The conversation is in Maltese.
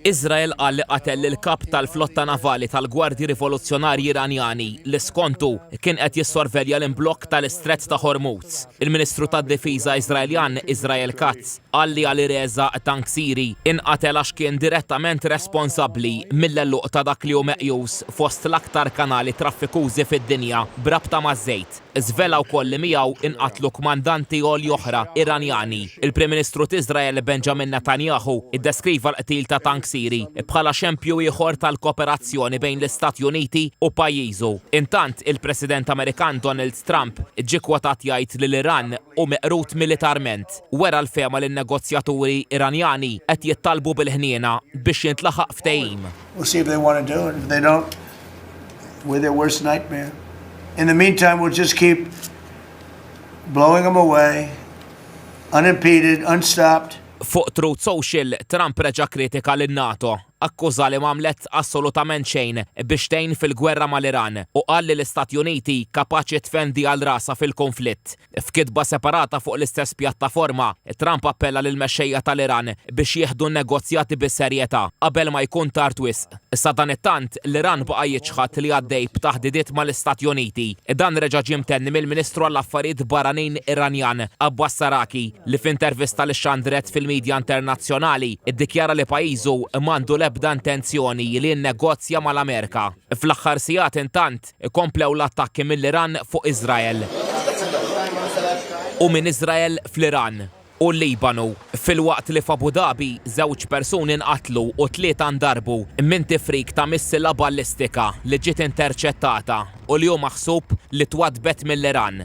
Iżrael qal li qatel lill-Kap tal-Flotta Navali tal-Gwardji Rivoluzzjonarji Iranjani li skontu kien qed jissorvelja l-imblokk tal-Istrett ta' Hormuz. Il-Ministru tad-Difiża Iżraeljan Israel Katz qal li Alireza Tangsiri inqatel għax kien direttament responsabbli mill-għeluq ta' dak li hu meqjus fost l-aktar kanali traffikużi fid-dinja b'rabta maż-żejt. Żvela wkoll li miegħu inqatlu kmandanti għoli oħra Iranjani. Il-Prim Ministru t'Iżrael Benjamin Netanyahu ddeskriva l-qtil ta' tank Siri bħala xempju ieħor tal-koperazzjoni bejn l-Istati Uniti u pajjiżu. Intant, il-President Amerikan Donald Trump ġie kkwotat jgħid li l-Iran hu meqrud militarment. Wera l-fehma li n-negozjaturi Iranjani qed jittalbu bil-ħniena biex jintlaħaq ftehim. We'll see if they want to do it. If they don't, we're their worst nightmare. In the meantime, we'll just keep blowing them away, unimpeded, unstopped. Fuq Truth Social, Trump reġa' kritika lil NATO, akkuża li m'għamlet assolutament xejn biex tgħin fil-gwerra mal-Iran u qal li l-Istati Uniti kapaċi tfendi għal rasha fil-konflitt. F'kitba separata fuq l-istess pjattaforma, Trump appella lill-mexxejja tal-Iran biex jieħdu n-negozjati bis-serjetà qabel ma jkun tard wisq. Sadanittant, l-Iran baqa' jiċħad li għaddej b'taħdidiet mal-Istati Uniti. Dan reġa' ġie mtenni mill-Ministru għall-Affarijiet Barranin Iranjan, Abbas Araghi, li f'intervista li xxandret fil-midja internazzjonali, iddikjara li pajjiżu m'għandu l-ebda intenzjoni li jinnegozja mal-Amerika. Fl-aħħar sigħat, intant, Ikomplew l-attakki mill-Iran fuq Iżrael u minn Iżrael fl-Iran u l-Libanu, filwaqt li f'Abu Dhabi żewġ persuni nqatlu u tlieta ndarbu minn tifrik ta' missila ballistika li ġiet interċettata u li hu maħsub li twaddbet mill-Iran.